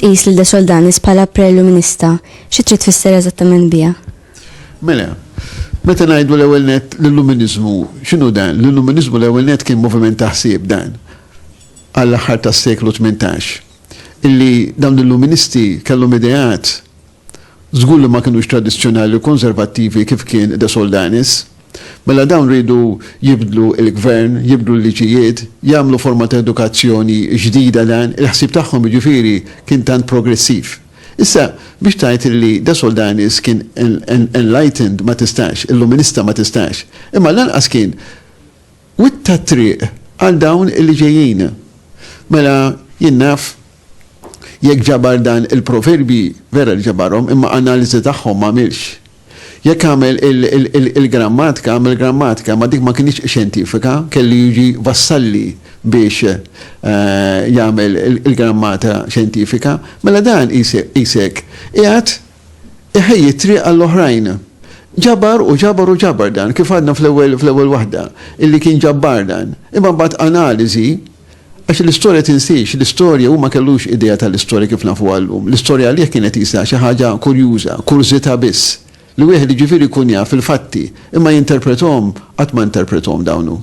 tqis lil De Soldanis bħala preluminista, xi trid tfisser eżattament biha? Mela, meta ngħidu l-ewwel net l-illuminizmu, x'inhu dan? L-illuminizmu l-ewwel net kien moviment taħsib dan għall-aħħar tas-seklu 18. illi dawn l-Illuministi kellhom ideat żgur li ma kinux tradizzjonali u konservattivi kif kien De Soldanis. Mela dawn riedu jibdlu l-gvern, jibdlu l-liġijiet, jagħmlu forma ta' edukazzjoni ġdida dan il-ħsieb tagħhom jiġifieri kien tant progressiv. Issa biex tgħid illi De Soldanis kien enlightened ma tistax, Illuminista ma tistax. Imma lanqas kien Witta t-triq għal dawn li ġejjin. Mela, jien naf, jekk ġabar dan il-proverbji, vera li ġabarhom, imma analiżi tagħhom m'għamilx. Jekk għamel il-grammatka, għamel grammatika, imma dik ma kinitx xjentifika, kellu jiġi Vassalli biex jagħmel il-grammata xjentifika. Mela dan qisek qiegħed iħejji t-triq għall-oħrajn. Ġabar u ġabar u ġabar dan, kif għadna fl-ewwel fl-ewwel waħda, illi kien ġabbar dan. Imma mbagħad analiżi, għax l-istorja tinsiex, l-istorja hu ma kellux idea tal-istorja kif nafuha llum. L-istorja għalih kienet qisha xi ħaġa kurjuża, kurżità biss, li wieħed jiġifieri jkun jaf il-fatti, imma jinterprethom, qatt ma interprethom dawn hu.